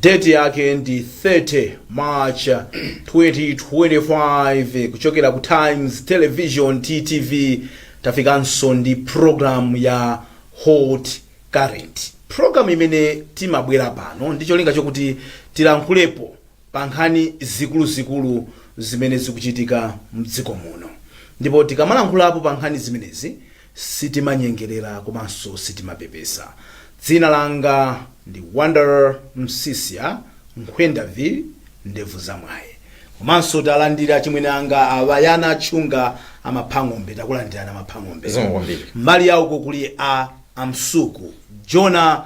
date yake ndi 30 march 2025 kuchokera ku times television ttv tafikanso ndi program ya hot current program imene timabwera pano ndi cholinga chokuti tilankhulepo pa nkhani zikuluzikulu zimene zikuchitika mdziko muno ndipo tikamalankhulapo pa nkhani zimenezi Sitimanyengerera komanso sitimapepesa. Dzina langa ndi Wonder Msiska Nkhwendavi, Ndevu za Mwayi. Komanso talandira achimwene anga a Bayana Chunga a Maphang'ombe. Takulandirani a Maphang'ombe. Zikomo kwambiri. Mbali ya uko kuli a Amsuku, Jona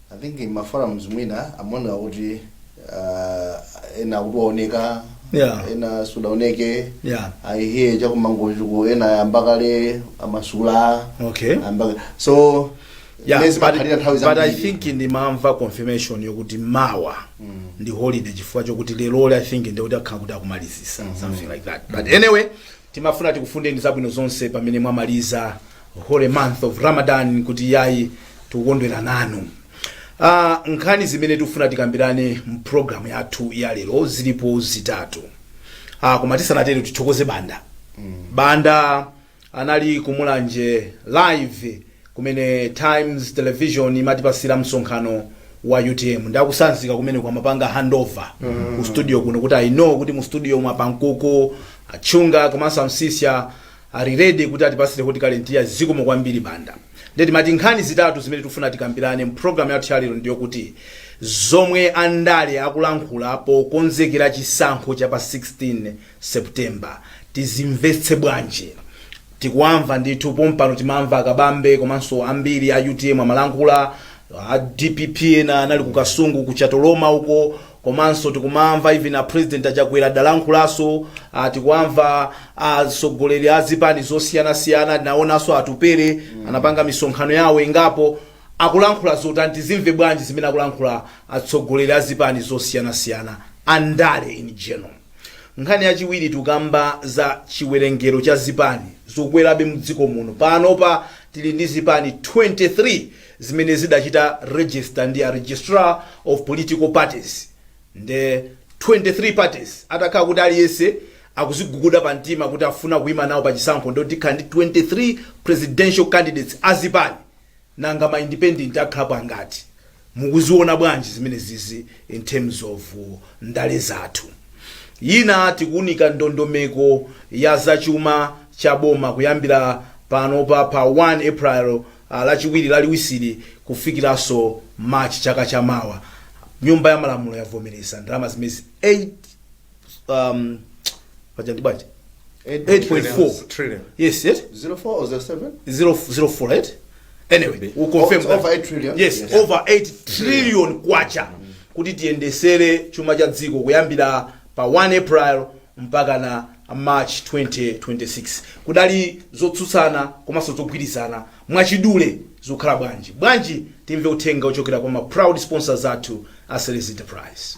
I think in maforums mwina amaoneka kuti uh, ena kuti waoneka Yeah. ena sunaoneke Yeah. i hear chakumangochuku ena ayamba kale kumasula Okay. ayamba so Yeah, mezi but, makhalira nthawi but I zambiri. think ndimamva confirmation yokuti mawa ndi holiday chifukwa chokuti lerolo I think ndikuti akhala kuti akumalizisa something like that but anyway Timafuna tikufunireni zabwino zonse pamene mwamaliza holy month of Ramadan kuti yayi tikukondwera nanu. Ah, nkhani zimene tikufuna tikambirane mu program yathu ya lero zilipo zitatu. Ah, koma tisanatero tithokoze Banda. Banda anali kumulanje live kumene times television imatipasira msonkhano wa utm nde akutsanzika kumeneko amapanga handover ku studio kuno kuti i know kuti mu studio mu a pankuku achunga komanso amsiska ali ready kuti atipasire hot current iya zikomo kwambiri banda nde timati nkhani zitatu zimene tikufuna tikambirane mu program yathu yalero ndi yokuti zomwe andale akulankhula pokonzekera chisankho cha pa 16 September tizimvetse bwanji? Tikuwamva ndithu pompano timamva akabambe komanso ambiri a utm amalankhula a dpp ena anali ku kasungu ku chatoloma uko komanso tikumamva even a president achakwera adalankhulanso ah, tikuwamva atsogoleri a zipani zosiyanasiyana tinaonanso atupere anapanga misonkhano yawo ingapo akulankhula zotani tizimve bwanji zimene akulankhula atsogoleri a zipani zosiyanasiyana andale in general Nkhani yachiwiri tukamba za chiwerengero cha zipani zokwerabe mdziko muno. Panopa tili ndi zipani 23 zimene zidachita register ndi a Registrar of Political Parties nde 23 parties atakhala kuti aliyense akuziguguda pa mtima kuti akufuna kuima nawo pa chisankho ndiye kuti tikhala ndi 23 presidential candidates a zipani. nanga ma independent akhala angati? mukuziona bwanji zimene zizi in terms of ndale zathu? yina tikuunika ndondomeko ya za chuma cha boma kuyambira panopa pa 1 April lachiwiri laliwisili kufikiranso March chaka cha mawa, nyumba ya malamulo yavomeleza ndalama zimezi 8. um, paja ndi bwanji 8.4 Trillion. yes yes 04 or 07? zero zero four right anyway we'll confirm that. over 8 trillion. yes, Yes. over 8 trillion kwacha kuti tiyendesere chuma cha dziko kuyambira pa 1 april mpaka na march 2026 kudali zotsutsana komanso zogwirizana mwachidule zokhala bwanji bwanji timve uthenga ochokera kwa ma proud sponsors athu a series enterprise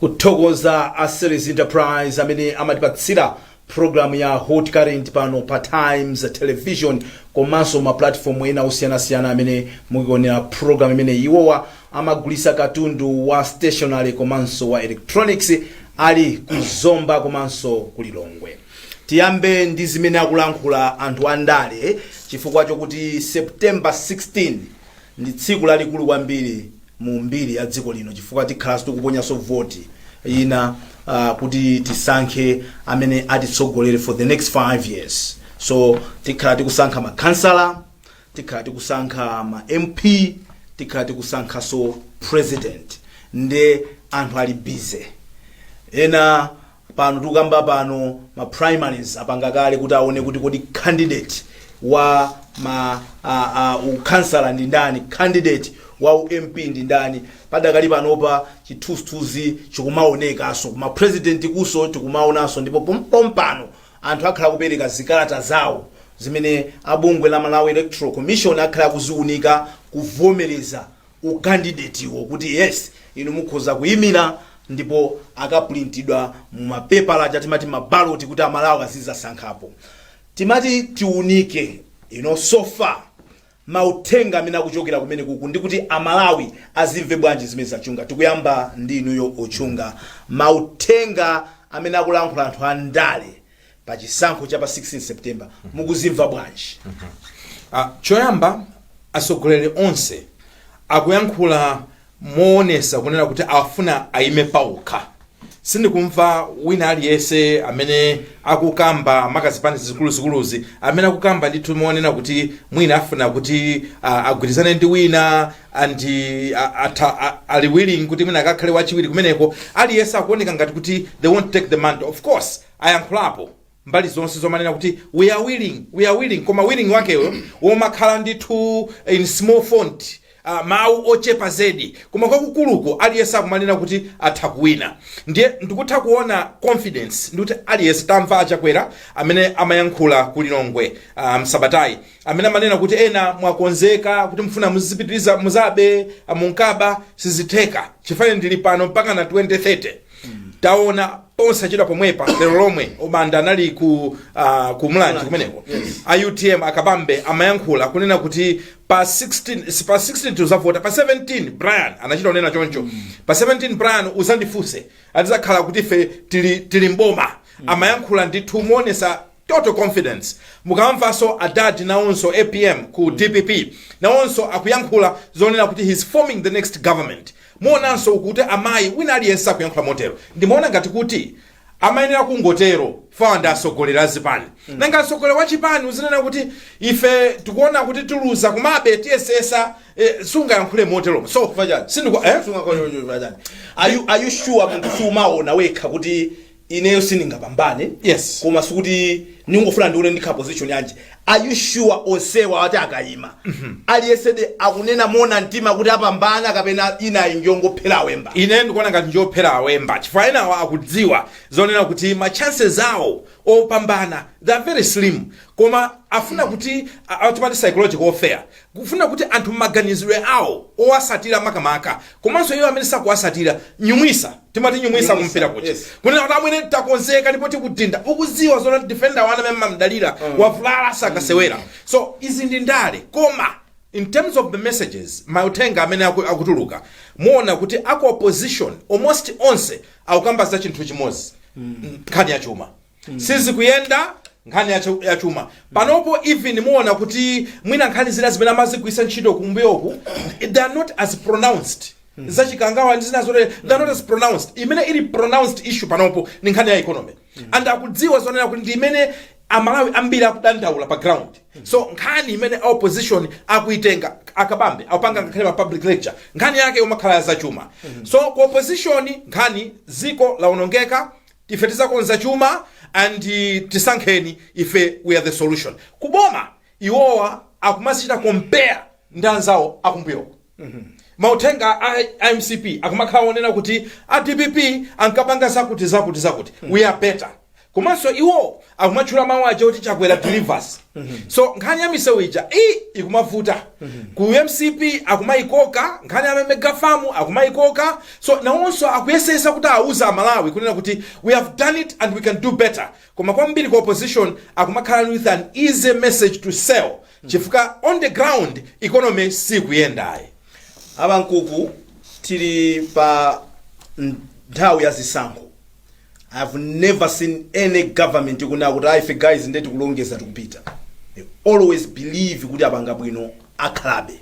kuthokoza a series enterprise amene amatipatsira programu ya hot current pano pa times television komanso mapulatifomu ena osiyanasiyana amene mukionera programu imene iwowa Amagulisa katundu wa stationery komanso wa electronics ali ku Zomba komanso ku Lilongwe. Tiyambe ndi zimene akulankhula anthu a ndale chifukwa chokuti September 16 ndi tsiku lalikulu kwambiri mu mbiri ya dziko lino chifukwa tikhalanso tikuponyanso voti ina uh, kuti tisankhe amene atitsogolere for the next 5 years. So tikhala tikusankha makhansala, tikhala tikusankha ma mp tikhala tikusankhaso president nde anthu ali busy ena pano tikukamba pano ma primaries apanga kale kuti aone kuti kodi candidate wa ma uh, uh, ukhansala ndi ndani candidate wa ump ndi ndani padakali panopa chithunzithunzi chikumaonekaso kuma president kuso tikumaonaso ndipo pompano Anthu akhala akupereka zikalata zawo zimene a bungwe la Malawi Electoral Commission akhala akuziunika kuvomereza u candidate-wo kuti yes inu mukhoza kuimira ndipo akapulintidwa mu ma pepala aja timati ma ballot kuti a Malawi azizasankhapo. Timati tiunike you know so far mauthenga amene akuchokera kumenekuku ndi kuti a Malawi azimve bwanji zimenezi a Chunga? Tikuyamba ndi inuyo o Chunga, mauthenga amene akulankhula anthu a ndale pa chisankho cha pa 16 September mukuzimva bwanji? Ah, choyamba atsogoleri onse akuyankhula moonesa kunena kuti afuna aime paokha sindikumva wina aliyese amene akukamba makazipani zikuluzikuluzi amene akukamba ndithu monena kuti mwina afuna kuti ah, agwirizane ndi wina andi ah, atha- ah, ali willing kuti mwina akakhale wachiwiri kumeneko aliyese akuoneka ngati kuti they want to take the mantle of course ayankhulapo mbali zonse zomanena kuti we are willing we are willing koma willing wakeyo womakhala ndithu in small font Uh, mawu ochepa zedi koma kwakukuluko aliyense akumanena kuti atha kuwina ndiye ndikutha kuona confidence ndikuti aliyense tamva achakwera amene amayankhula ku lilongwe uh, msabatayi amene amanena kuti ena mwakonzeka kuti mfuna muzipitiriza kuzabe uh, munkaba sizitheka chifukwa ndili pano mpaka na 2030 taona posachedwa pomwepa lero lomwe obanda anali ku uh, ku mulanje kumeneko a utm akabambe amayankhula kunena kuti pa 16 si pa 16 tuzavota pa 17 brian anachita kunena choncho pa 17 brian uzandifunse azizakhala kuti ife tili, tili mboma amayankhula ndithu moonesa Total confidence. Mukamvanso adadi nawonso apm ku dpp nawonso akuyankhula zonena kuti he is forming the next government. Muonanso uku kuti amayi wina aliyense akuyankhula motero. Ndimaona ngati kuti amayenera kungotero chifukwa ndi atsogoleri a zipani. Nanga mtsogoleri wa chipani uzinena kuti ife tikuona kuti tiluza komabe tiyesesa eh, sungayankhule moteromo. So Chifukwa chani? sindiku- eh? Sungakambe chocho chifukwa chani? Are you, are you sure munthu sumaona wekha kuti ineyo sindingapambane Yes. koma sikuti ndingofuna ndione ndikhala position yanji are you sure onsewa atati akayima aliyesede akunena mona mtima kuti apambana kapena inayi njongophera awemba ine ndikuona ngati njophera awemba chifukwa enawo akudziwa zonena kuti ma chances awo opambana they are very slim koma afuna kuti a- a- timati psychological warfare Kufuna kuti anthu mmaganizidwe awo owasatira makamaka komanso iwo amene sakuwasatira nyumwisa timati nyumwisa kumpira kuja kunena kuti amwene takonzeka ndipo tikudhinda ukuziwa zona defender wanu amene mmamdalira wavulala sakasewera so izi ndi ndale koma in terms of the messages mauthenga amene aku- akutuluka muona kuti aku opposition almost onse akukamba za chinthu chimozi nkhani ya chuma sizikuyenda nkhani ya chu- ya chuma panopo even muona kuti mwina nkhani zina zimene amazigwiritsa ntchito kumbuyoku they are not as pronounced zachikangawa ndi zina zotere they are not as pronounced imene ili pronounced issue panopo ni nkhani ya economy and akudziwa zonena kuti ndi imene amalawi ambiri akudandaula pa ground so nkhani imene a opposition akuitenga akabambe akupanga ngakhale ma public lecture nkhani yake imakhala ya zachuma so ku opposition nkhani ziko laonongeka Ife tizakonza chuma and tisankheni ife we are the solution ku boma iwowa akumazichita compare ndi anzawo akumbuyoko mauthenga a mcp akumakhala onena kuti a dpp ankapanga zakuti zakuti zakuti we are better komanso iwo akumatchula mawu aja kuti chakwera delivers so nkhani ya misewu ija ikumavuta ku mcp akumayikoka nkhani ya megafamu akumayikoka so nawonso akuyesesa kuti awuza amalawi kunena kuti we have done it and we can do better koma kwambiri ku opposition akumakhala with an easy message to sell chifukwa on the ground economy sikuyendayi a Bamkuku tili pa nthawi ya zisankho I've never seen any government ikunena kuti aa ife guys nde tikulongeza tikupita. They always believe kuti apanga bwino akhalabe.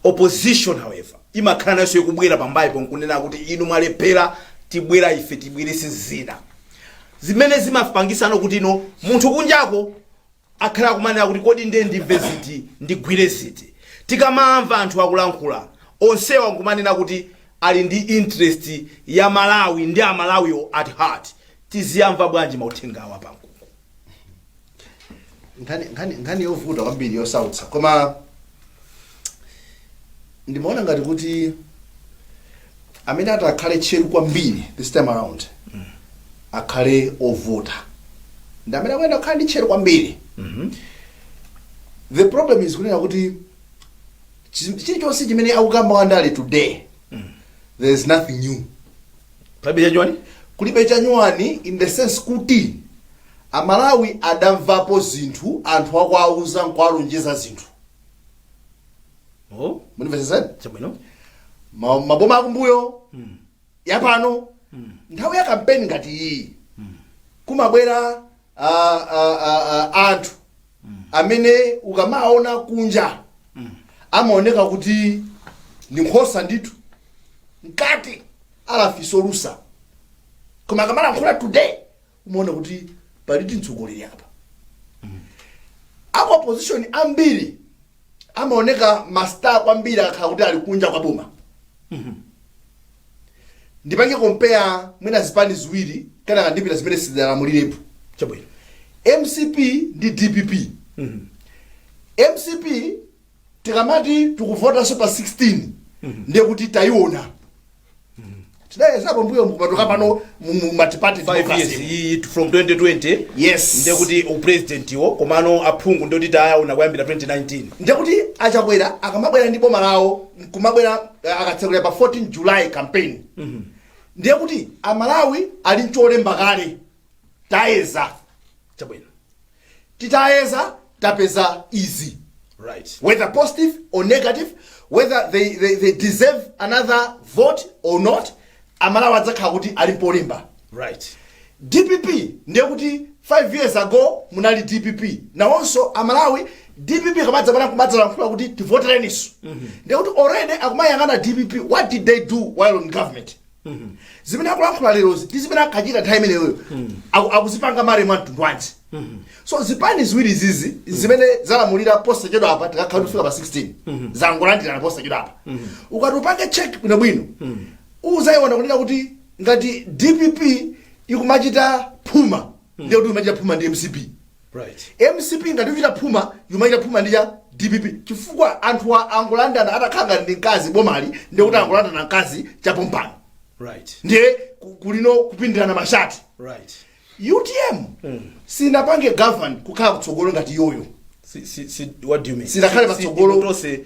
Opposition however imakhala nayo ikubwera pambaliyo nkunena kuti inu mwalephera tibwera ife tibwerese zina. Zimene zimapangisano kuti ano munthu kunjako akhala kumanena kuti kodi ndiye ndimve ziti ndigwire ziti tikamawamva anthu akulankhula onsewa nkumanena kuti ali ndi interest ya malawi ndi amalawiwo at heart tiziyamva bwanji mauthengawa Bamkuku nkhani yovuta kwambiri yosautsa koma ndimaona ngati kuti amene atakhale tcheru kwambiri this time around akhale ovota ndi amene akuyenera kukhala ndi tcheru kwambiri the problem is kunena kuti chi- chilichonse chimene akukamba wandale today there is nothing new kulibe chanyuwani in the sense kuti amalawi adamvapo zinthu anthu akuwauza nkuwalonjeza zinthu munimvesesani chabwino maboma akumbuyo mm. yapano mm. nthawi ya kampeni ngati iyi mm. kumabwera ah, ah, ah, ah, anthu mm. amene ukamaona kunja mm. amaoneka kuti ndi nkhosa ndithu mkati ali afisi olusa koma akamalankhula today umaona kuti palidi mtsogoleri apa aku opposition ambiri amaoneka master kwambiri akakhala kuti ali kunja kwa boma ndipange compare mwina zipani ziwiri kenaka ndipita zimene sizidalamulirepo chabwino mcp ndi dpp mcp tikamati tukuvotaso pa 16 ndiye kuti tayiona tidayezera pambuyo mkumatoka pano mu- mu multiparty 5 years democracy iyi from 2020 yes ndiye kuti upresident iwo komano aphungu ndiye kuti tayaona kuyambira 2019 ndiye kuti achakwera akamabwera ndi boma lawo kumabwera eh, akatsekula pa 14 july campaign ndiye kuti amalawi ali mcholemba kale tayeza chabwino titayeza tapeza izi right whether positive or negative whether they, they, they deserve another vote or not amalawi adzakhala kuti ali mpolemba right dpp ndiye kuti 5 years ago munali dpp nawonso amalawi dpp kamadzapanga kumadzalankhula kuti tivotereniso ndiye kuti already akumayang'ana dpp what did they do while in government zimene akulankhula lerozi ndi zimene ankachita nthawi imeneyoyo aku- akuzipanga marry mwa mtundu wanji so zipani ziwiri zizi zimene zalamulira posachedwa apa tikakhala kufika pa 16 zangolandirana posachedwa apa ukati upange check bwinobwino uzayiona kunena kuti ngati dpp ikumachita phuma ndiye kuti imachita phuma ndi mcp Right. mcp ngati uchita phuma imachita phuma ndi a dpp chifukwa anthu a- angolandana atakhala ngati ndi mkazi bomali ndiye kuti angolandana mkazi chapompano Right. ndiye ku- kulino kupindirana mashati Right. utm sinapange govern kukhala kutsogolo ngati iyoyo Si, si, si, what do you mean? Sinakhale Si- si- patsogolo. inu tonse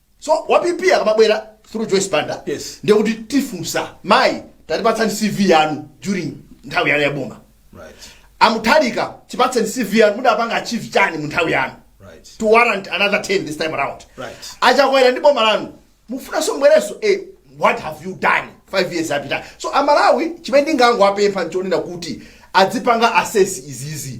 so wa pp akamabwera through joyce banda Yes. ndiye kuti tifunsa mayi tatipatsani cv yanu during nthawi yanu yaboma Right. a mutharika tipatseni cv yanu mudapanga achieve chani mu nthawi yanu Right. to warrant another term this time around Right. achakwera ndi boma lanu mufunanso mbwerenso eh, what have you done five years apita so amalawi chimene ndingangowapempha nchonena kuti adzipanga assess izizi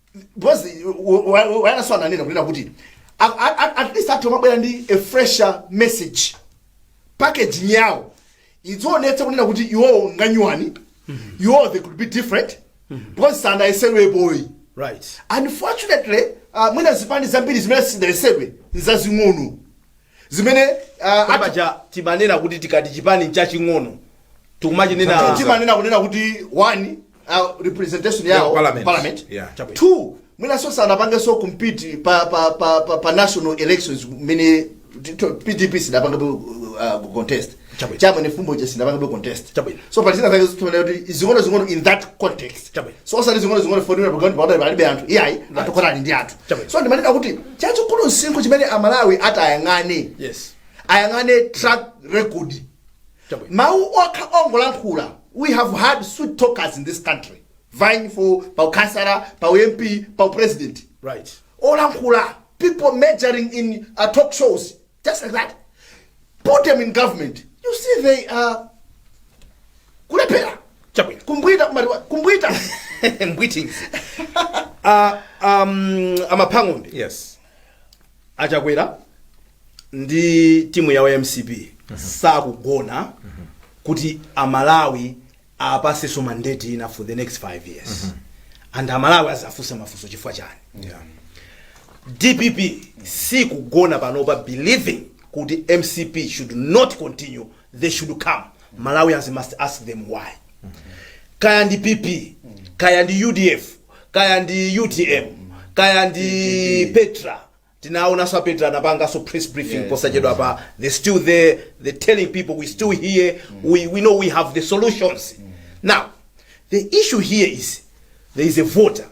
because wayanaso ananena kunena kuti a- a- a- at least anthu amabwera ndi a fresher message packaging yawo idzionetsa kunena kuti iwowo nganyuwani iwowo they could be different because sanayesedwepoyi right unfortunately uh, mwina zipani zambiri zimene sidayesedwe nzazing'ono zimene ah, Kodi ati- paja timanena kuti tikati chipani chaching'ono tikumachinena timanena kunena kuti one uh, representation Yeah, yawo parliament. parliament Yeah, chabwino. two mwinanso sanapangenso compete pa, pa, pa, pa, pa national elections mmene t- t- pdp sidapange uh, contest Chabwino. cha mwenifumbo je sidapanga contest Chabwino. so pali zina zake zitolera kuti zing'ono zing'ono in that context Chabwino. so osati zing'ono zing'ono fonera pagani pagani palibe anthu iyayi anthu kotani ndi anthu Chabwino. so ndimanena kuti chachikulu msinkhu chimene amalawi ati ayang'ane yes ayang'ane track record Chabwino. mawu okha ongolankhula we have had sweet talkers in this country vying for paukansala pau mp pau president right olankhula people majoring in uh, talk shows just like that put them in government you see they are kulephera chabwino kumbwita kumati wa- kumbwita mbwitingi uh, um, amaphang'ombe yes a Chakwera ndi timu yawo ya mcp sakugona kuti amalawi awapaseso mandate ina for the next 5 years and amalawi azafunse mafunso chifukwa chani dpp sikugona panopa believing kuti mcp should not continue they should come malawians must ask them why kaya ndi pp kaya ndi udf kaya ndi utm kaya ndi petra Tinaonanso a Petra anapanganso press briefing yes, posachedwapa yes. they're still there they're telling people we still here mm. we, we know we have the solutions mm. now the issue here is there is a voter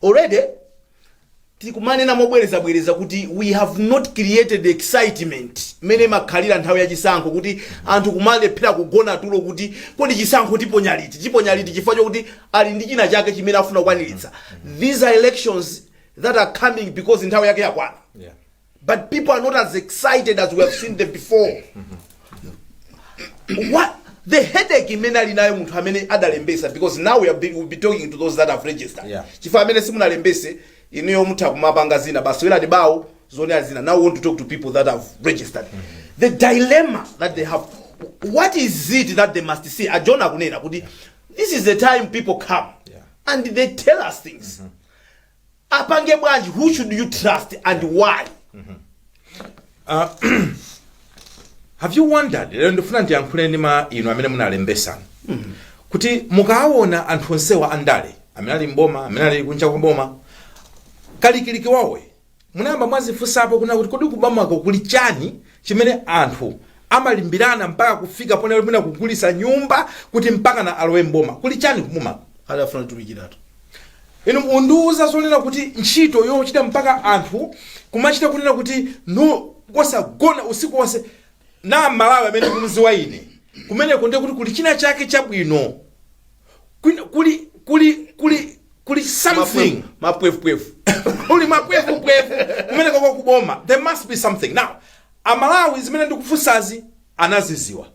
already tikumanena mobwerezabwereza kuti we have not created excitement mmene makhalira nthawi ya chisankho kuti anthu kumalephera kugona tulo kuti kodi chisankho tiponya liti tiponya liti chifukwa chokuti ali ndi china chake chimene afuna kukwaniritsa these are elections that are coming because nthawi yake yakwana Yeah. but people are not as excited as we have seen them before what the headache imene ali nayo munthu amene adalembesa because now we are be, we'll be talking to those that have registered Yeah. chifukwa amene simunalembese inuyo mutha kumapanga zina basi werani bawo zone ali zina now we want to talk to people that have registered the dilemma that they have what is it that they must see ajona akunena kuti this is the time people come Yeah. and they tell us things apange bwanji who should you trust and why have you wondered lero ndifuna ndiyankhule ndimwa inu amene munalembesa kuti mukaawona anthu onsewa andale amene ali mboma amene ali kunja kwa boma kalikiliki wawoyu Munayamba mwazifunsapo kunena kuti kodi kubomako kuli chani chimene anthu amalimbirana mpaka kufika ponena kuti mwina kugulitsa nyumba kuti mpakana alowe m'boma? Kuli chani kubomako? Adzafuna kutumikiratu. Inu mundiuze zonena kuti ntchito yochita mpaka anthu kumachita kunena kuti no kosagona usiku wonse na Malawi amene ndikumdziwa ine, kumeneko ndiye kuti kuli china chake chabwino. Kwina kuli kuli kuli kuli something mapwevupwevu kuli mapwevupwevu kumeneko ko kuboma there must be something now amalawi zimene ndikufunsazi anaziziwa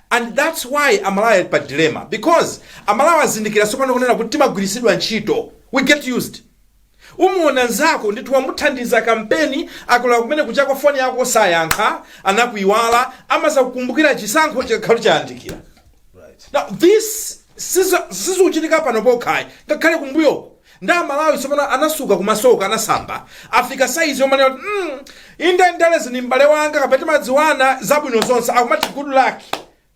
and that's why amalawi ali pa dilemma because amalawi azindikira tsopano kunena kuti timagwiritsidwa ntchito we get used Umuona nzako ndithu wamuthandiza kampeni akulowa kumene kujako foni yako sayankha anakuiwala amazakukumbukira chisankho chikakhala chayandikira now this sizo- sizikuchitika pano pokhayi ngakhale kumbuyoko and amalawi tsopano anasuka kumasoko anasamba afika saizi yomanena kuti mm, inde ndalezi ni m'bale wanga kapena timadziwana zabwino zonse akumati good luck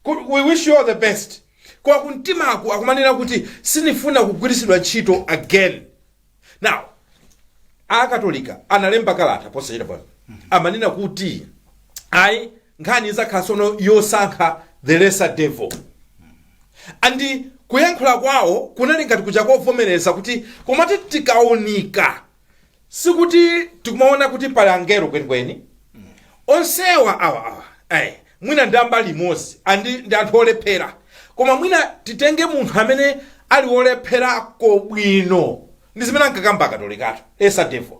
Kuti we wish you all the best koma kumtimako akumanena kuti sinifuna kugwirisidwa ntchito again now akatolika analemba kalata posachedwapa amanena kuti ayi nkhani izakhala sono yosankha the lesser devil and kuyankhula kwawo kunali ngati kuja akuvomereza kuti komati tikaunika sikuti tikumaona kuti pali angelo kwenikweni onsewa awa awa eh, mwina ndi ambali imodzi andi ndi anthu olephera koma mwina titenge munthu amene ali wolepherako bwino ndi zimene ankakamba akatolikato lesser devil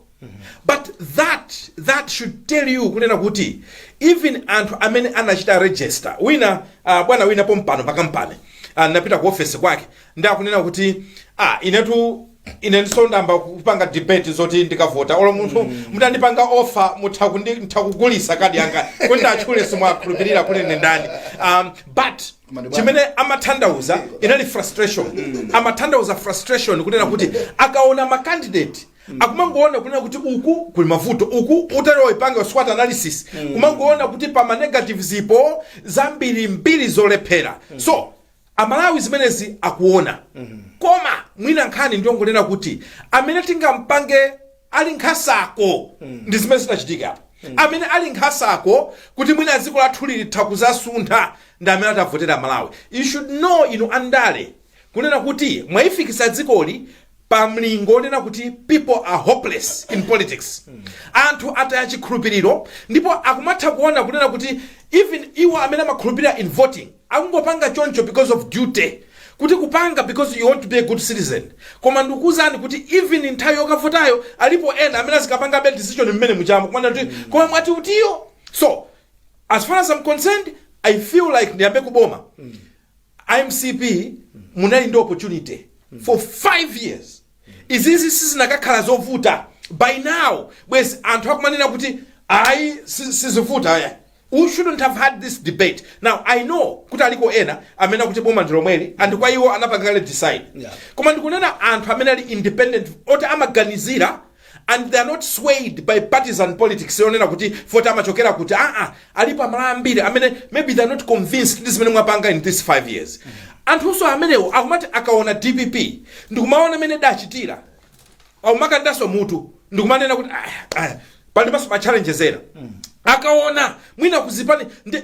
but that that should tell you kunena kuti even anthu amene anachita register wina uh, bwana wina pompano pakampani uh, ndinapita ku ofesi kwake ndakunena kuti ah, inetu ine ndisanayambe kupanga debate zoti ndikavota olo munthu mutandipanga offer mutha kundi- mutha kukugulisa kadi yanga kuti actually simukhulupirira kuti ine ndani um, but Koma ndi bwana. chimene amathandauza inali frustration amathandauza frustration kunena kuti akaona macandidate akumangoona kunena kuti uku kuli mavuto uku utati upange SWOT analysis kumangoona kuti pa manegatives zilipo zambiri mbiri zolephera so amalawi zimenezi akuona koma mwina nkhani ndiyongonena kuti amene tingampange ali nkhasako ndi zimene zinachitika apo amene ali nkhasako kuti mwina dziko lathu litha kuzasuntha ndi amene atavotere amalawi you should know inu andale kunena kuti mwayifikisa dzikoli pa mlingo onena kuti people are hopeless in politics anthu ataya chikhulupiriro ndipo akumatha kuona kunena kuti even iwo amene amakhulupirira in voting akungopanga choncho because of duty kuti kupanga because you want to be a good citizen koma ndikukuuzani kuti even nthawi yokavotayo alipo ena amene azikapanga debate decision mmene muchamo kumanena kuti koma mwati utiyo so as far as i'm concerned i feel like ndiyambe kuboma a mcp munali ndi opportunity for 5 years izizi sizinakakhala zovuta by now bwezi anthu akumanena kuti ayi si- sizivuta ayi we shouldn't have had this debate now i know kuti aliko ena amene akuti boma ndi lomweli and kwa iwo anapanga kale decide Yeah. koma ndikunena anthu amene ali independent oti amaganizira and they are not swayed by partisan politics yonena kuti poti amachokera kuti aa alipo amalawi ambiri amene maybe they are not convinced ndi zimene mwapanga in this 5 years anthunso amenewo akumati akaona dpp ndikumaona mmene adachitira aumakandaso mutu ndikumanena kuti "Ah, ah, palinso ma challenges ena akaona mwina kuzipani ndi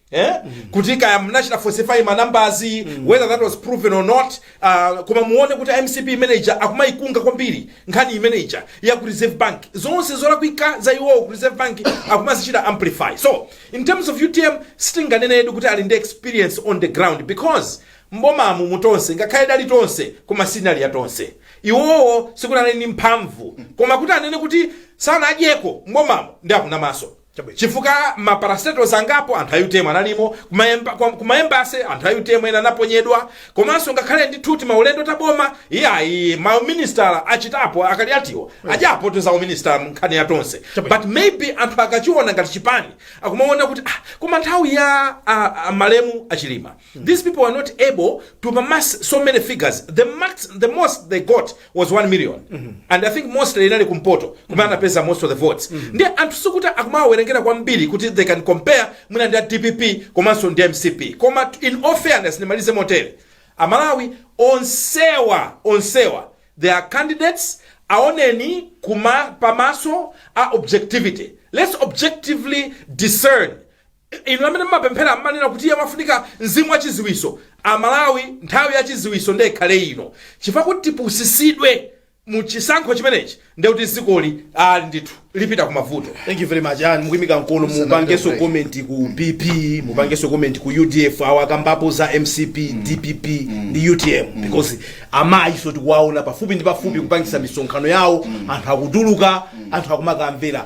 Eh? kuti kaya munachita falsify manumbers whether that was proven or not uh, koma muone kuti mcp panopa akumayikunga kwambiri nkhani imene ija ya ku reserve bank zonse zolakwika za iwowo ku reserve bank akumazichita amplify so in terms of utm sitinganenetu kuti ali ndi experience on the ground because mbomamu mu tonse ngakhale idali tonse koma sinali ya tonse iwowo sikuti anali ndi mphamvu koma kuti anene kuti sanadyeko mbomamu ndi akunamaso Chabwino, chifukwa ma parastatals angapo anthu a utm analimo, kuma emba, kwa, kuma ma embassy anthu a utm ena anaponyedwa, komanso ngakhale ndithu timaulendo ta boma iyayi ma uminisitala achitapo a Kaliatiwo adyapo za uminisitala mu nkhani ya Tonse Chabwino. but maybe anthu akachiona ngati chipani akumaona kuti ah, koma nthawi ya ah, ah, malemu a Chilima these people were not able to amass so many figures the, the most they got was 1 million and i think mostly inali kumpoto kumene anapeza most of the votes ndiye anthu sikuti akumawawerengera kwambiri kuti they can compare mwina ndi a dpp komanso ndi mcp koma in all fairness ndimalize motere amalawi onsewa onsewa they are candidates aoneni pamaso a objectivity let's objectively discern Inu amene mumapemphera mumanena kuti iye pamafunika mzimu wa chiziwiso amalawi nthawi ya chiziwiso nde ikhale ino chifukwa kuti tipusisidwe mu chisankho chimenechi nde kuti zikoli aa ndithu lipita ku mavuto thank you very much and mukuimika mkono mupangeso comment ku pp mupangeso comment ku udf awa akambapo za mcp dpp ndi utm because amayi so tikuwaona pafupi ndi pafupi kupangisa misonkhano yawo anthu akutuluka anthu akumakamvera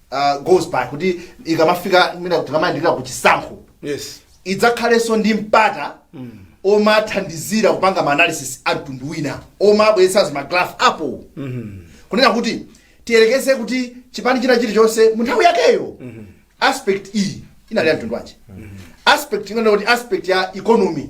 uh, goes by kuti ikamafika mwina kuti ikamayandikira ku chisankho yes idzakhalenso ndi mpata omathandizira kupanga maanalysis a mtundu wina omabweretsa magraph apo kunena kuti tiyerekeze kuti chipani china chilichonse mu nthawi yakeyo aspect iyi inali ya mtundu wanji aspect ndinganene kuti aspect ya economy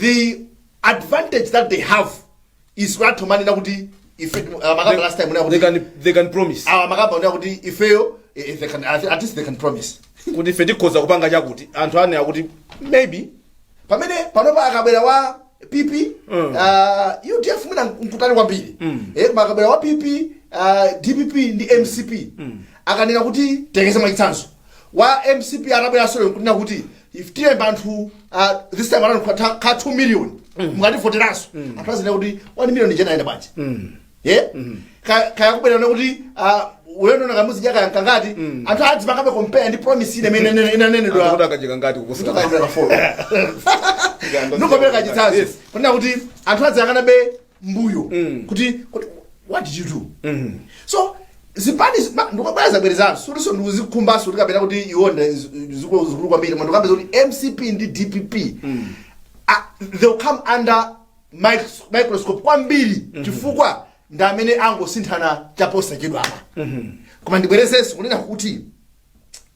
the advantage that they have is what amanena kuti ife uh, makamba last time unena they kuti can they can promise awa makamba unena kuti ifeyo eh, eh, they can at at least they can promise kuti ife tikhoza kupanga chakuti anthu anena kuti maybe pamene panopa akabwera wa pp Mm. uh, udf mwina nkutali kwambiri eh, koma akabwera wa pp uh, dpp ndi mcp akanena kuti tiyerekeze mwachitsanzo wa mcp atabwera solo nkunena kuti ife tilemba anthu uh, this time around kwa ta- ka 2 million mukativoteranso anthu azinena kuti 1 million ija inayenda bwanji ye Ka- kaya kubwerana kuti uh, ulendo wa Kamuzu zaka kangati anthu adzipangabe compare ndi promise ine imene inene- inanenedwa Akuti akacheka ngati kuposa ndikakambira kafolo ndikakambira kachitsanzo kunena kuti anthu adzayang'anabe mbuyo kuti kuti what did you do so zipani ndikubwerezabwerezanso sikutinso ndikuzikhumbaso kuti kapena kuti iwo ndi zikuluzikulu kwambiri koma ndikukamba zakuti mcp ndi dpp ah, they'll come under micros- microscope kwambiri chifukwa ndi amene angosinthana chaposachedwapa koma ndibwerezenso kunena kuti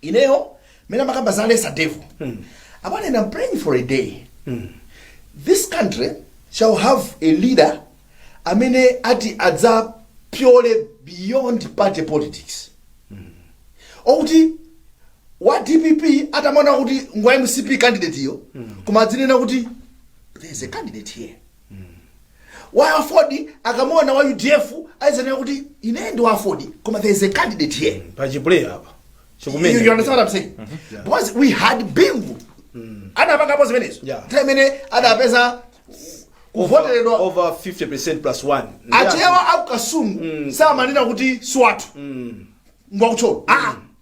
ineyo mmene amakamba za lesser devil apa ine am praying for a day this country shall have a leader amene ati adzapyole beyond party politics okuti wa dpp atamuona kuti ngwa mcp candidateyo koma adzinena kuti there is a candidate here wa aford akamuona wa udf adzinena kuti ine ndi wa aford koma there is a candidate here pachiplay apa You, you understand what I'm saying? Because we had Bingu. Anapangapo zimenezo. Yeah. Nthawi imene adapeza kuvoteredwa over 50 plus 1 achewa a ku Kasungu samanena kuti siwathu ngwa ku Thyolo aa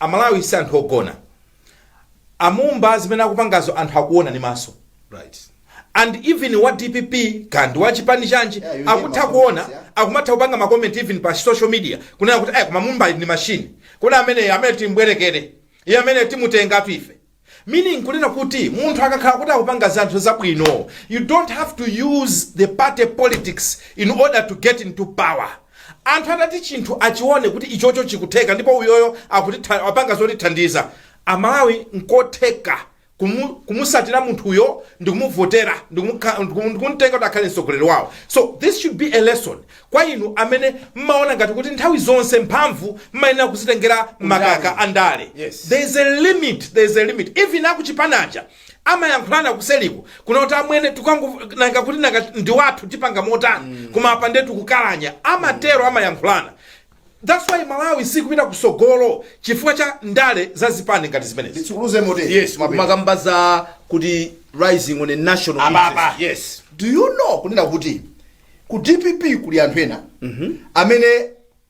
Amalawi si anthu ogona. Amumba zimene akupangazo anthu akuona ndi maso right and even wa dpp kaya ndi wa chipani chanji Yeah, you hear akutha my kuona comments, yeah. akumatha kupanga ma comment even pa social media kunena kuti eh koma mumba ndi machine kodi amene amene timbwerekere iye amene timutengatu ife Meaning kunena kuti munthu akakhala kuti akupanga zanthu zabwino you don't have to use the party politics in order to get into power. Anthu atati chinthu achione kuti ichocho chikutheka ndipo uyoyo akutitha apanga zotithandiza Amalawi nkotheka kumu kumusatira munthuyo ndikumuvotera ndikumukha ndikumtenga kuti akhale mtsogoleri wawo. So this should be a lesson Kwa inu amene mmaona ngati kuti nthawi zonse mphamvu mmayenera kuzitengera makamaka a ndale, Yes. there is a limit, there is a limit. Even akuchipani aja amayankhulana kuseliku kunena kuti amwene tukangu nanga kuti nanga ndi wathu tipanga motani koma apa nde tikukalanya amatero amayankhulana that's why malawi sikupita kusogolo chifukwa cha ndale za zipani ngati zimenezi nditsukuluze motero yes mmakamba za kuti rising on a national Ababa. interest. yes do you know kunena kuti ku dpp kuli anthu ena amene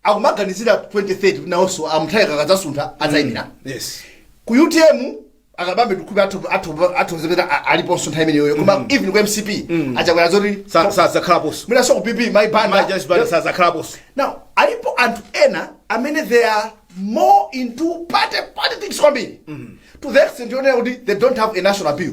akumaganizira 2030 kuti nawonso a Mutharika akadzasuntha adzayimira yes ku utm akabambe ndikhupe athozekera aliponso nthawi imeneyoyo koma even ku mcp achakwera zoti Sa- sadzakhalaponso mwinaso ku pp mayi Banda mayi Joyce Banda sadzakhalaponso now alipo anthu ena amene they are more into party politics kwambiri to the extent yonena kuti they don't have a national appeal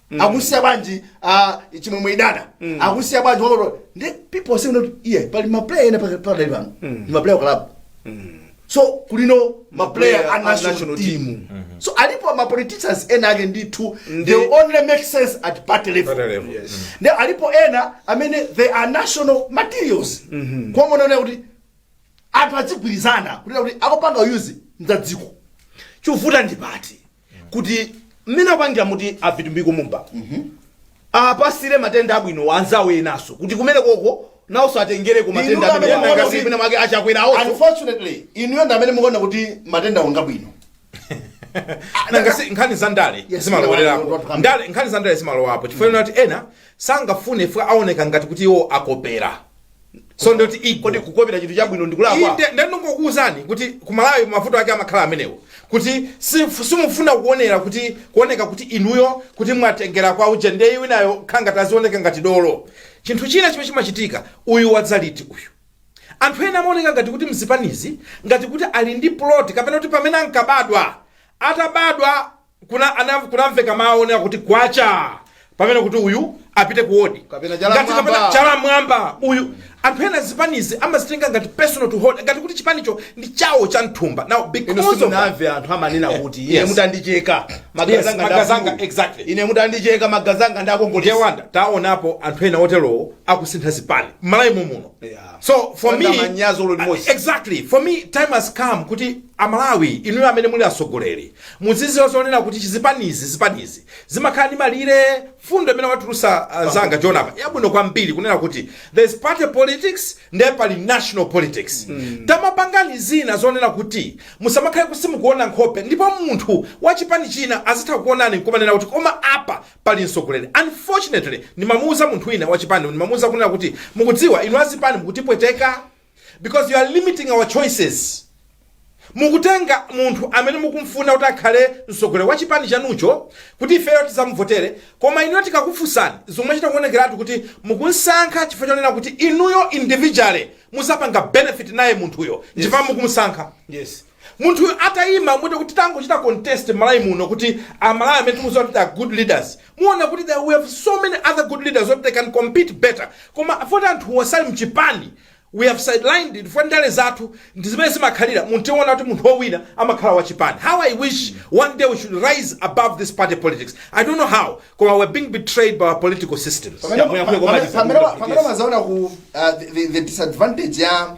akusiya bwanji ah, chimwemwe idana akusiya bwanji walo ndi people say not iye pali maplayer ena pakati pakati pano ndi maplayer a club so kulinso maplayer Maplayer a a national national team team. so alipo ma politicians ena ake ndithu they only make sense at party level Party level. Yes. ndi alipo ena amene they are national materials kuonana kuti anthu adzigwirizana kunena kuti akupanga uzi mdzadziko chovuta ndi pati kuti mmene apangira muti a Vitumbiko Mumba apasire matendency abwino anzawo enaso kuti kumene koko nawonso atengereko matendency Inu amene amene akasi kuti- mwina mwake a Chakwera awonso unfortunately inuyo ndi amene mukuona kuti matendency ngabwino nanga si nkhani za ndale Yes, zimalowererapo ndale, ndale. ndale nkhani za ndale zimalowapo chifukwa mm. kuti ena sangafune chifukwa aoneka ngati kuti iwo akopera so nditi ego kodi kukopera chinthu chabwino ndikulakwa inde ndinangokuwuzani kuti ku malawi mavuto ake amakhala amenewo kuti si- simufuna kuonera kuti kuoneka kuti inuyo kuti mwatengera kwa uje ndiye winayo akhala akuzionetsa ngati dolo chinthu china chimene chimachitika uyu wadzala iti uyu anthu ena amaoneka ngati kuti mzipanizi ngati kuti ali ndi plot kapena kuti pamene ankabadwa atabadwa kuna ana kunamveka mawu onena kuti kwacha kapena kuti uyu apite ku odi Kapena chala Ngati m'mwamba. kapena chala m'mwamba uyu anthu ena zipanizi amazitenga ngati personal to holder ngati kuti chipanicho ndi chawo cha mthumba now ino because of that, simunamve anthu amanena kuti ine Yes. mutandicheka Yes, magazi anga magazi anga, ndakulu. exactly. ine mutandicheka magazi anga ndi a Kongeresi wanda taonapo anthu ena oterowo akusintha zipani mmalawi muno Yeah. so for me Wanda manyazi ulo limodzi. exactly for me time has come kuti amalawi inuyo amene muli atsogoleri Mudziziwa zonena kuti chizipani zipanizi zimakhala ndi malire mfundo imene watulusa uh, anzanga John apa yabwino kwambiri kunena kuti there's party politics ndiye pali national politics mm. tamapangani zina zonena kuti musamakhale kuti simukuona nkhope ndipo munthu wa chipani china azitha kukuonani nkumanena kuti koma apa pali mtsogoleri unfortunately ndimamuuza munthu wina wa chipani ndimamuuza kunena kuti mukudziwa inu azipani mukutipweteka because you are limiting our choices mukutenga munthu amene mukumfuna kuti akhale mtsogoleri wa chipani chanucho kuti ifeyo tizamuvotere koma inuyo tikakufunsani zimachita kuonekeratu kuti mukumsankha chifukwa chonena kuti inuyo individually muzapanga benefit naye munthuyo chifukwa mukumsankha yes Munthu atayima mwati kuti tangochita contest Malawi muno kuti a Malawi amene tikuziwa kuti they are good leaders muona kuti we have so many other good leaders oti they can compete better koma foti anthuwo sali mchipani we have sidelined foti ndale zathu ndi zimene zimakhalira munthu tiona kuti munthu owina amakhala wa chipani how I wish one day we should rise above this party politics I don't know how koma we're being betrayed by our political systems Pamene- Yamuyamuya koma pamene- pamene- pamene tisakuti- mazaona ku uh, the, the- the disadvantage ya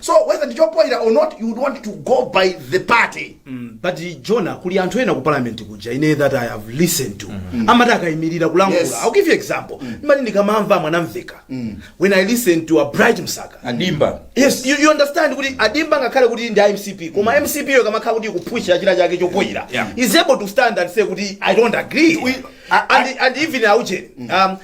so whether ndi chopoira or not you would want to go by the party but jona kuli anthu ena ku parliament kuja ine that i have listened to amati akayimirira kulankhula Yes. i'll give you example ineyo ndikamamva Mwanamveka when i listen to a Bright Msaka a Dimba yes you, you understand kuti a Dimba ngakhale kuti ndi mcp koma mcp yo ikamakhala kuti ikupusha china chake chopoyira Yeah. is able to stand and say kuti i don't agree We- I- and, and even auje um,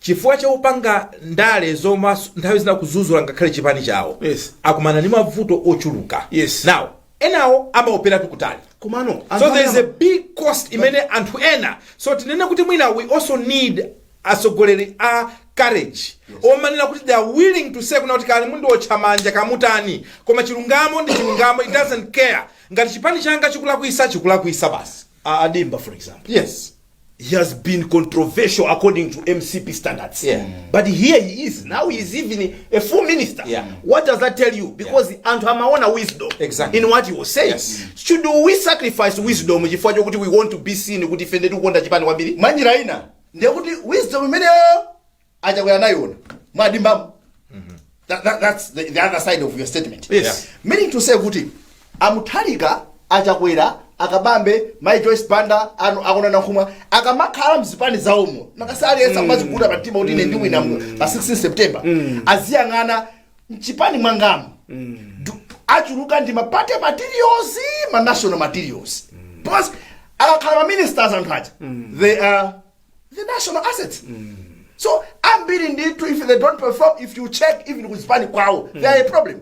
chifukwa cha kupanga ndale zoona nthawi zina kuzuzula ngakhale chipani chawo Yes. akumana ndi mavuto ochuluka Yes. now enawo amaopera kutali komano so there is a big cost imene anthu ena so tinene kuti mwina we also need atsogoleri a courage omanena kuti they are willing to say kunena kuti kaya mundiotcha manja kamutani koma chilungamo ndi chilungamo it doesn't care ngati chipani changa chikulakwisa chikulakwisa basi A- a Dimba for example yes he has been controversial according to mcp standards Yeah. but here he is now he is even a full minister Yeah. what does that tell you because anthu amaona wisdom Exactly. in what he was saying Yes. should we sacrifice wisdom chifukwa chokuti we want to be seen kuti ife ndetikukonda chipani kwambiri mwanjira ina ndekuti wisdom imeneyo achakwera anaiona mwa Dimbamo That- that- that's the, the other side of your statement Yes. meaning to say kuti a Mutharika achakwera a Kabambe mai Joyce Banda a Kondwani Nankhumwa akamakhala mzipani zawomo nthawi aliyense akumaziguda pa mtima kuti ine ndiwina mu- pa 16 september aziyang'ana mchipani mwangamu Du- achuluka ndi ma party materials ma national materials because akakhala ma ministers anthu aja they are the national assets so ambiri ndithu if they don't perform if you check even ku zipani kwawo they are a problem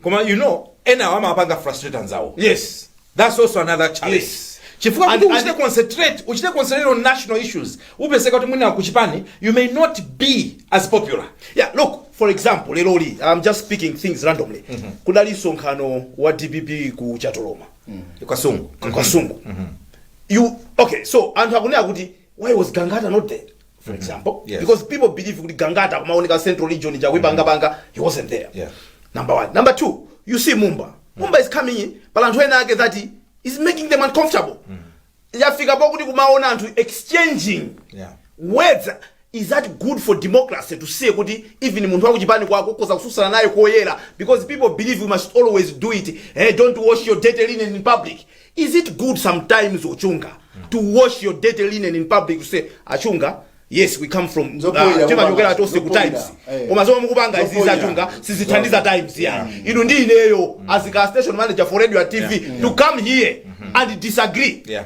koma you know enawo amapanga frustrate anzawo yes that's also another challenge Yes. chifukwa And- kuti and- uchite concentrate uchite concentrate on national issues upezeka kuti mwina kuchipani you may not be as popular yeah look for example lero li i'm just speaking things randomly kudali msonkhano wa dpp ku Chatoloma ku Kasungu ku Kasungu yeah okay so anthu akunena kuti why was gangata not there for example Yes. because people believe kuti gangata kumaoneka central region ija akuipangapanga he wasn't there Yeah. number one number two you see mumba mumba is coming in but anthu ena ake that is making them uncomfortable yafika pokuti kumaona anthu exchanging Yeah. words Is that good for democracy to say kuti even munthu wakuchipani kwako ukhoza kutsutsana naye koyera because people believe we must always do it hey, don't wash your dirty linen in public is it good sometimes a Chunga to wash your dirty linen in public to say a Chunga yes we come from Zopoira, uh, timachokera koma- tonse ku times eh. koma zomwe mukupanga izizi a Chunga sizithandiza times ya inu ndi ineyo as a station manager for radio and tv to come here and disagree Yeah.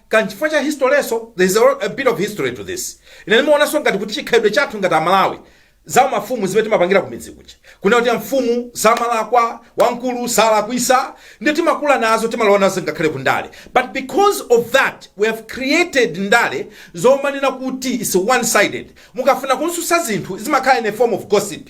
ka nchifukwa cha history so there is a, a bit of history to this ine ndimaonanso ngati kuti chikhalidwe chathu ngati amalawi za mafumu zimene timapangira kumidzi kuja kunena kuti mfumu samalakwa wamkulu salakwisa ndi timakula nazo timalowa nazo ngakhale ku ndale but because of that we have created ndale zomanena kuti its one sided mukafuna kutsutsa zinthu zimakhala in a form of gossip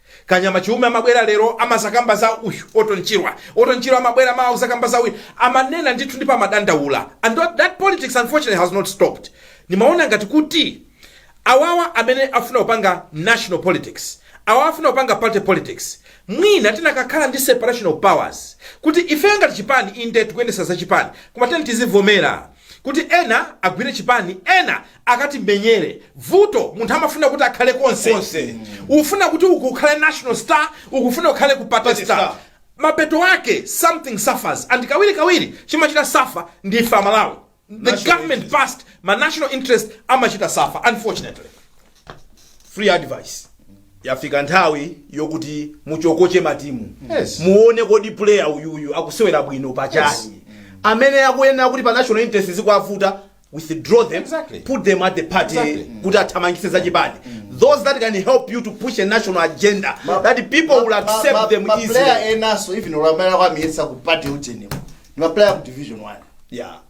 Kanyama Chiume amabwera lero amazakamba za uyu Orton Chirwa. Orton Chirwa amabwera mawa kuzakamba za uyu. Amanena ndithu ndipo amadandaula. And that, that politics unfortunately has not stopped. Nimaona ngati kuti awawa amene afuna kupanga national politics awawa afuna kupanga party politics mwina tinakakhala ndi separation of powers kuti ifeyo ngati chipani inde tikuyendesa za chipani koma tiyeni tizivomera Kuti ena agwire chipani ena akatimenyere. Vuto munthu amafuna kuti akhale konse konse. Ufuna kuti uku ukhale national star uku ufuna ukhale ku party Party star. star. Mapeto ake something suffers and kawiri kawiri chimachita suffer ndi ife amalawi. The government passed ma national interest amachita suffer unfortunately. free advice yafika nthawi yokuti muchokoche matimu Yes. muone kodi player uyuyu akusewera bwino pachani amene akuyenera kuti pa national interest zikuavuta withdraw them Exactly. put them at the party Exactly. kuti athamangise za chipani those that can help you to push a national agenda that people will accept them easily maplayer enaso even ulamulo kuwayesa ku party utenemo ni maplayer ku division 1 yeah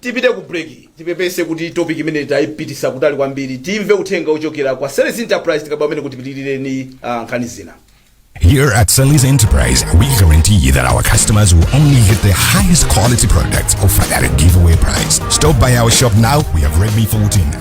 tipite ku break tipepese kuti topic imene tayipitisa kutali kwambiri timve uthenga ochokera kwa Ceres Enterprise tikaba amene kuti pitilireni uh, nkhani zina Here at Sally's Enterprise, we guarantee that our customers will only get the highest quality products offered at a giveaway price. Stop by our shop now. We have Redmi 14,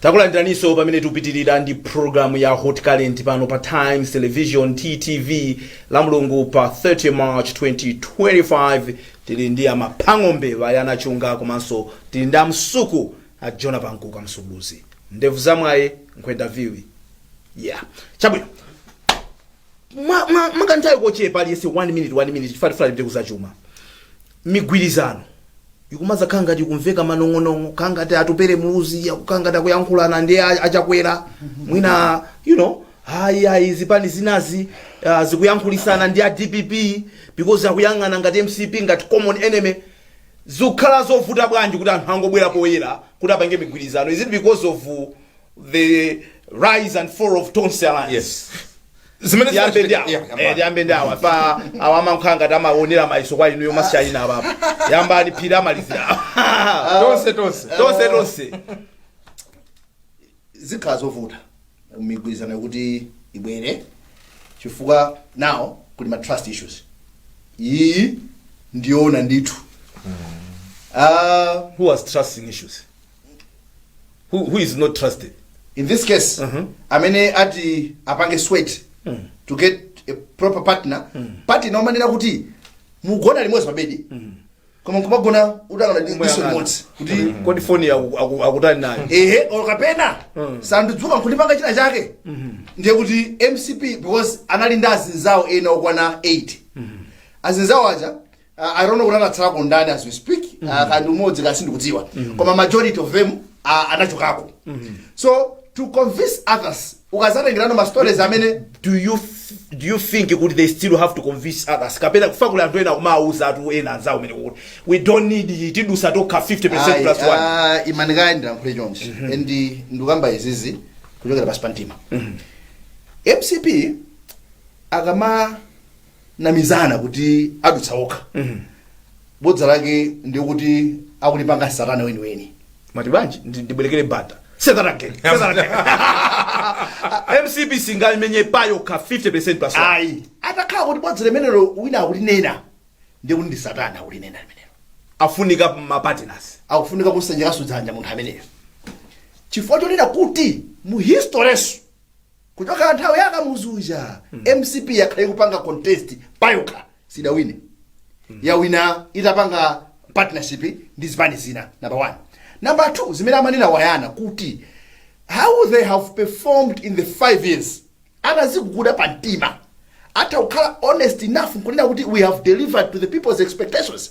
takulandiraninso pamene tikupitirira ndi programu ya hot current pano pa times television ttv lamulungu pa 30 march 2025 tili ndi amaphang'ombe aya anachunga komanso tili ndi amsuku a jona pankuka msukuluzi ndevu zamwaye nkwenda viwi yeah chabwino mwa- mwa- mwakanthawi kochepa aliyese 1 minute 1 minute chifa tifuna tipite kuzachuma migwirizano ikumadzakhala ngati kumveka manong'onong'o kukhala ngati atupele muluzi akukhala ngati akuyankhulana ndi a- achakwera mwina you know ayi ayi zipani zinazi uh, zikuyankhulitsana ndi a dpp because akuyang'ana ngati mcp ngati common enemy zikukhala zovuta bwanji kuti anthu angobwera poyera kuti apange migwirizano is it because of uh, the rise and fall of tonse alliance yes Zimene tiyambe ndi zinachita- yeah, awa yambani. Eh, tiyambe ndi awa pa awa amakhala ngati amaonera mayiso kwa inuyo masiyayina apapo yambani phiri amalizire awa tonse tonse tonse tonse zikhala zovuta migwirizano kuti ibwere chifukwa now kuli ma trust issues iyi ndi yoona ndithu Ah, who has trusting issues who, who is not trusted in this case amene ati apange sweat to get a proper partner partner nomanena kuti mugona limodzi pabedi koma nkumagona utayang'ana diso Moyang'ana. limodzi kuti kodi foni aku- aku- akutani nayo ehe or kapena sandidzukira nkundipanga china chake ndiye kuti mcp because anali ndi azinzawo ena okwana 8 azinzawo aja I don't know kuti anatsalako ndani as we speak mm -hmm. uh, kaya ndi mmodzi basi ndikudziwa mm -hmm. koma majority of them uh, anachokako mm -hmm. so to convince others ukazatengerano ma stories amene do you f- do you think kuti they still have to convince others kapena chifukwa kuli anthu ena kumawuza anthu ena anzawo omwe kuti we don't need iyi tidutsa tokha 50 plus 1 imani kaya ndilankhule chonchi and ndikamba izizi kuchokera pansi pa mtima mcp akama akunamizana kuti adutsa okha bodza lake ndikuti akulipanga satana weniweni mati bwanji ndi- ndibwerekere banda Say that again. Say that again. mcp singamenye payokha 50 plus one. ayi atakhala kuti bodza limenelo wina akulinena ndikuti ndi satana akulinena limenelo afunika ma partners akufunika kusanjikaso dzanja munthu ameneyo chifukwa chonena kuti mu historeso Kuchokera nthawi ya Kamuzu uja mcp yakhala ikupanga contest payokha sidawine yawina itapanga partnership ndi zipani zina number one number two zimene amanena awanyana kuti how they have performed in the five years ataziguguda pa mtima atha kukhala honest enough nkunena kuti we have delivered to the people's expectations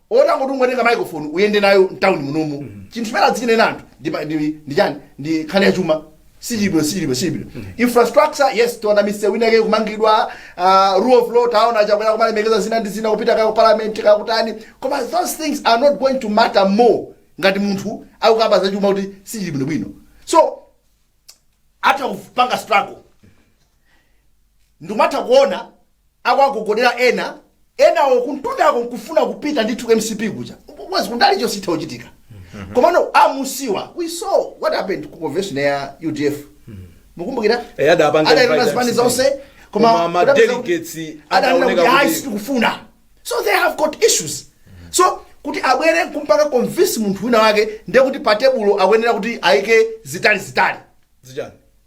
otangoti ungotenga microphone uyende nayo m'town munomu chinthu chimene adzinena anthu ndi pa- ndi- ndi chani ndi nkhani ya chuma sichilibwino sichilibwino sichilibwino infrastructure yes taona misewu ina yake kumangidwa ah, rule of law taona chakwera kumalemekeza zina ndi zina kupita ka ku parliament kakutani koma those things are not going to matter more ngati munthu akukamba za chuma kuti sichilibwino bwino so atha kupanga struggle ndikumatha kuona akuwagogodela ena enawo kumtundako nkufuna kupita ndithu mcp kuja mwezi kunali chositha uchitika komano amusiwa we saw what happened ku convention ya udf mukumbukira Eh, adapanga adanena invite zipani mcp. zonse Koma koma ma kudapeza kuti- delegates adanena adaoneka kuti kuti- ayi sitikufuna so they have got issues so kuti abwere kumpanga convince munthu wina wake ndiye kuti pa tebulo akuyenera kuti ayike zitani zitani zichani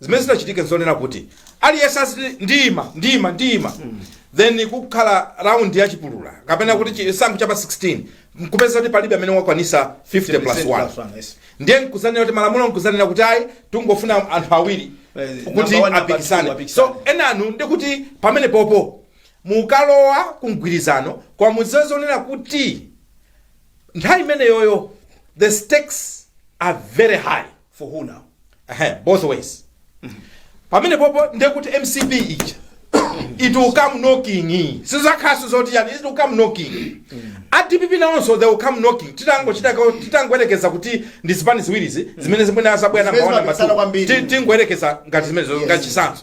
zimene zingachitike zonena kuti aliyense aziti ndiyima ndiyima ndiyima then kukhala round ya chipulula kapena kuti chisankho cha pa 16 nkupeza kuti palibe amene wakwanisa 50 plus 1 ndiye nkuzanena kuti malamulo nkuzanena kuti ayi tingofuna anthu awiri Eh, kuti number one, number two apikisane apikisane. so enawo ndikuti pamene popo mukalowa kumgwirizano kwa mudziwe zonena kuti nthawi imeneyoyo the stakes are very high for who now Ehe, both ways pamene popo ndekuti mcp ija it will come knocking sizakhalaso zoti yani it will come knocking a dpp nawonso they will come knocking titangochita ka- titangoyerekeza kuti ndi zipani ziwirizi zimene zimene azabwera Zimene namba one, namba zimapikisana two. kwambiri. Ti- tingoyerekeza ngati zimene Yes. ngati chitsanzo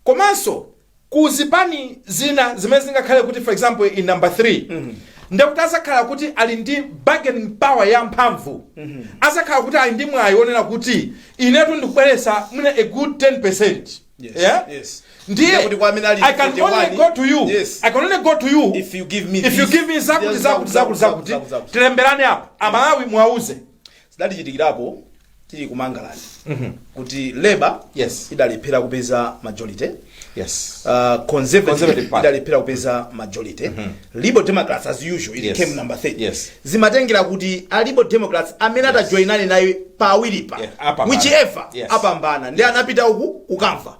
komanso ku zipani zina zimene zingakhale kuti for example in number 3 ndekuti azakhala kuti ali ndi bargaining power yamphamvu azakhala kuti ali ndi mwayi wonena kuti inetu ndikubweresa mwina a good 10 percent Yes, yeah? yes. ndiye Ndekuti kwa amene ali i can 41, only go to you yes. i can only go to you If you give me if you this, give me zakuti yes, zakuti zakuti zakuti, zakuti zakuti. tilemberane apa Amalawi muwauze zidatichitikirapo tili ku mangalande kuti labour idalephera kupeza majority conservative idalephera kupeza majority liberal democrats as usual it came number 3 Yes. zimatengera kuti a liberal democrats amene atajoinane naye pawiripa whichever apambana ndi anapita uku kukamva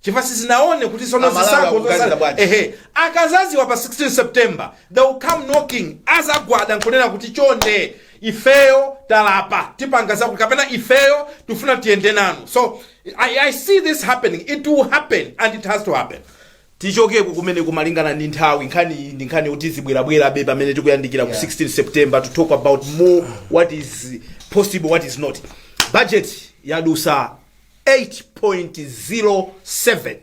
chifukwa sizinaone kuti sono zotsatira akazaziwa pa 16 september they will come knocking azagwada nkunena kuti chonde ifeyo talapa tipanga zakuti kapena ifeyo tifuna tiyende nanu so I, i see this happening it will happen and it has to happen tichokeko kumene kumalingana ndi nthawi nkhani iyi ndi nkhani yoti zibwerabwerabe pamene tikuyandikira ku 16 september to talk about more what is possible what is not budget yadusa 8.07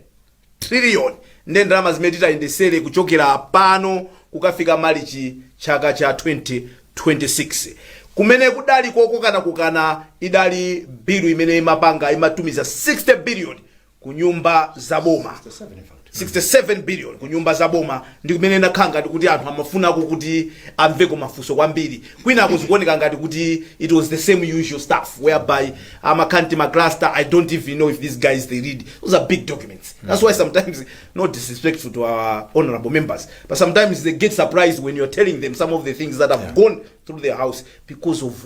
trillion nde ndalama zimene titayendesere kuchokera pano kukafika malichi chaka cha 2026 kumene kudali kukokanakokana idali bilu imene imapanga imatumiza 60 billion kunyumba za boma 67 billion ku nyumba za boma ndi kumene inakhala ngati kuti anthu amafunako kuti amveko mafunso kwambiri kwinako zikuoneka ngati kuti it was the same usual stuff whereby amakhala ndi macluster i don't even know if these guys they read those are big documents that's why sometimes no disrespectful to our honorable members but sometimes they get surprised when you're telling them some of the things that have gone through their house because of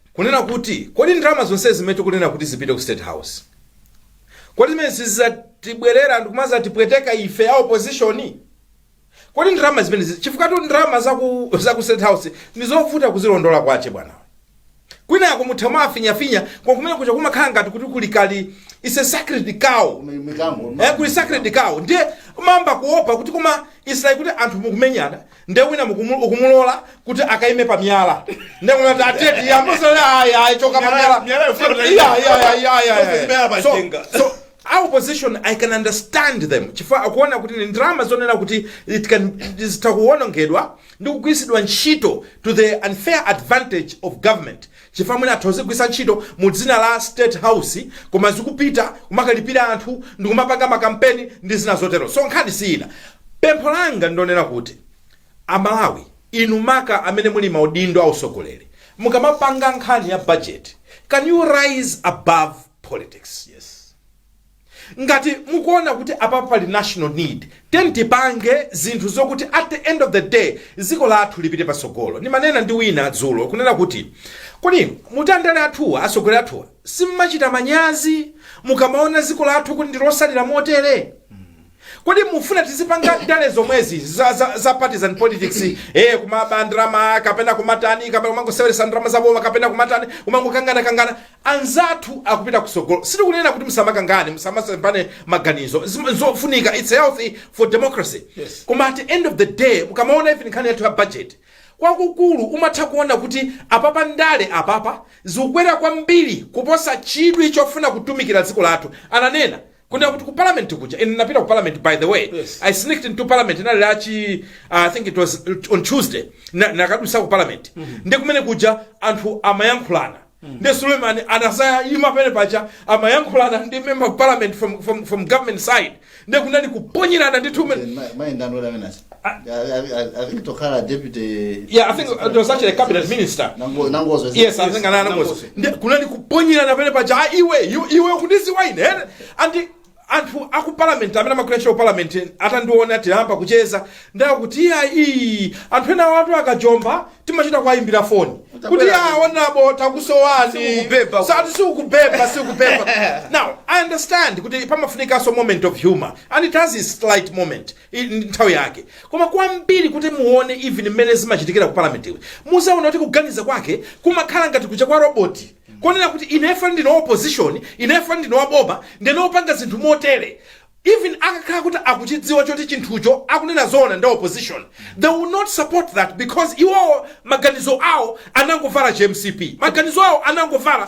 Kunena kuti, kodi ndalama zonsezi zimene tikunena kuti zipite ku State House, kodi zimenezi sizidzatibwerera ndi kumadzatipweteka ife a opposition? Kodi ndalama zimenezi, chifukwatu ndalama za ku, za ku State House ndi zovuta kuzilondola kwache bwanawe. Kwinako mutha kumafinyafinya, koma kumene kuja kumakhala ngati kuti kuli kali, it's a sacred cow. Kuli sacred cow. Ndiye umayamba kuopa kuti koma it's like kuti anthu mukumenyana, nde wina mukumu- ukumulola kuti akaime pa miyala nde kumati tisatiyambe ayi ayi choka pa miyala so our opposition i can understand them chifukwa akuona kuti ni ndalama zonena kuti it can zitha kuwonongedwa ndi kugwiritsidwa ntchito to the unfair advantage of government Chifukwa mwina atha kuzigwiritsa ntchito mu dzina la state house koma zikupita kumakalipira anthu ndikumapanga makampeni ndi zina zotero. So nkhani si ina. Pempho langa ndilonena kuti a Malawi inu maka amene muli maudindo a utsogoleri mukamapanga nkhani ya budget can you rise above politics. Ngati mukuona kuti apapa pali national need tiyeni tipange zinthu zokuti at the end of the day dziko lathu lipite patsogolo. Ndimanena ndi wina dzulo kunena kuti kodi mmati andale athuwa, atsogoleri athuwa simmachita manyazi mukamaona dziko lathu kuti ndilotsalira motere? Kodi mufuna tizipanga ndale zomwezi za, za, za partisan politics eh, kumaba ndalama kapena kumatani kapena kumangoseweretsa ndalama za boma kapena kumatani kumangokangana kangana anzathu akupita kutsogolo sitikunena kuti musamakangane musamasemphane maganizo Zim- zofunika it's healthy for democracy Yes. koma at the end of the day mukamaona even nkhani yathu ya budget kwakukulu umatha kuona kuti apapa ndale apapa zikukwera kwambiri kuposa chidwi chofuna kutumikira dziko lathu ananena kunena kuti ku parliament kuja ine ndinapita ku parliament by the way Yes. i sneaked into parliament inali lachi uh, i think it was on tuesday Na- nakadutsa ku parliament ndi komwe kuja anthu amayankhulana ndi suleiman anasaima penepaja amayankhulana ndi member of parliament from, from, from government side ndi kunali kuponyerana ndi tumen mayendano lamene tokhala deputy yeah i think it was actually a cabinet minister Nango- nangozo is it? yes I think a Nangozo Ndi- kunali kuponyerana penepaja a iwe iwe- iwe ukundiziwa ine ene. and anthu aku parliament amene amakulasha ku parliament atandiona atayamba kucheza nawo kuti iya iyi anthu enawatu akajomba timachita kuwayimbira foni kuti ya honourable takusowani Sikukubeba. sati sikukubeba sikukubeba now i understand kuti pamafunikanso moment of humor and it has its light moment I- ndi nthawi yake koma kwambiri kuti muone even mmene zimachitikira ku parliament iwe mudzaona kuti kuganiza kwake kumakhala ngati kuja kwa roboti konena kuti ineyo ndine wa opposition ineyo ndine waboma ndine opanga zinthu motere even akakhala kuti akuchidziwa choti chinthucho akunena zoona ndi opposition they will not support that because iwowo maganizo awo anangovala chi MCP maganizo awo anangovala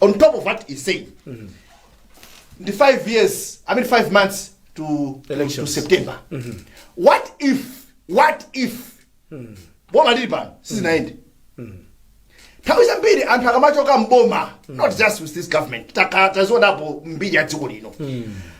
on top of what he's saying the five years i mean five months to, to, to Elections. september what if what if boma lilipoli sizinaende nthawi zambiri anthu akamachoka mboma not just with this government taka- tazionapo mu mbiri ya dziko lino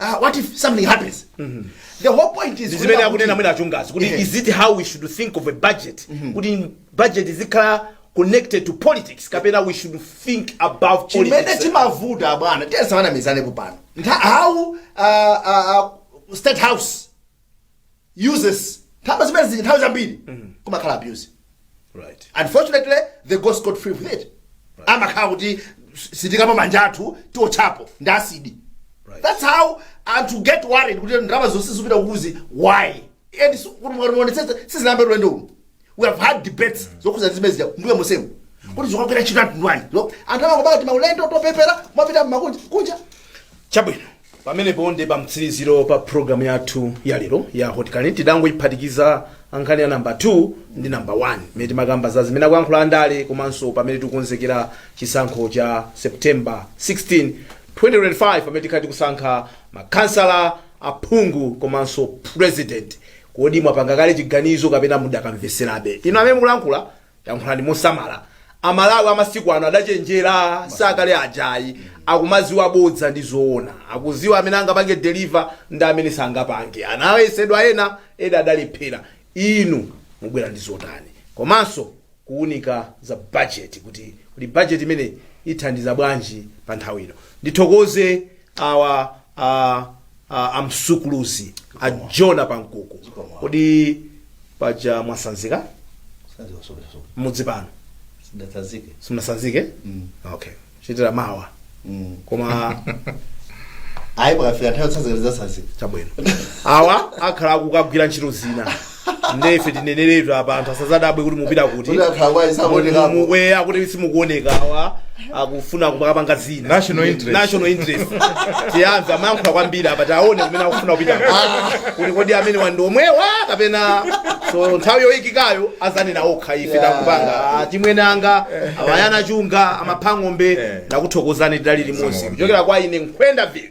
uh, what if something happens the whole point is zimene akunena mwene a Chingazi kuti Yeah. is it how we should think of a budget kuti budget izikhala connected to politics kapena we should think about chimene politics chimavuta abwana tisanamizanepo pano Ntha- how uh, uh, uh, state house uses nthawi zimene zili nthawi zambiri kumakhala abuse right unfortunately they go scot free with it amakhala kuti sitikamba manja athu tiotchapo ndi asidi Right. that's how anthu get worried kuti ndalama zonse zikupita kukuzi why and si- kuti mukaonetsetsa sizinayambe ulendo uno we have had debates zokhudza zimene zija mbuyo msemu kuti zikagwira ntchito yanji Lo, anthu amangobaka timaulendo topepera kumapita m'makunja kunja chabwino pamenepo ndi pa mtsiriziro pa programu yathu ya lero ya Hot Current tidangoyiphatikiza nkhani ya namba 2 ndi namba 1 imene timakamba za zimene akuyankhula andale komanso pamene tikukonzekera chisankho cha september 16 2025 pamene tikhala tikusankha makhansala aphungu komanso president Kodi mwapanga kale chiganizo kapena mudakamveserabe? Inu amene mukulankhula, yankhulani mosamala. Amalawi amasiku ano adachenjera sakale aja ayi. Akumadziwa bodza ndi zoona. Akudziwa amene angapange deliver ndi amene sangapange. Anayesedwa ena, ena adalephera. Inu mubwera ndi zotani? Komanso kuunika za budget kuti kodi budget imeneyi ithandiza bwanji pa nthawi ino. Ndithokoze awa a, a, a Msukulizi a Jonah Pankuku kodi paja mwatsanzika mudzi pano sindinatsanzike simunatsanzike okay muchitira mawa koma ayi pakafika nthawi tsanzikani tsanzika chabwino awa akhala akugwira ntchito zina nde ife tineneretu apa anthu asazadabwe kuti mupita kuti Kuti anthu awa sakuonekapo. Mu- mu- we akuti simukuoneka awa akufuna kumapanga zina National interest. national interest tiyamve amayankhula kwambiri apa tiaone kumene akufuna kupita kuti kodi ameneyu ndi omwewa kapena so nthawi yoyikikayo azanena okha ife Yeah. takupanga Ah, timwene anga a Maya Nachunga amapha ng'ombe Eh. ndakuthokozani tidali limodzi Zomwe. kuchokera kwa ine Nkhwenda Phiri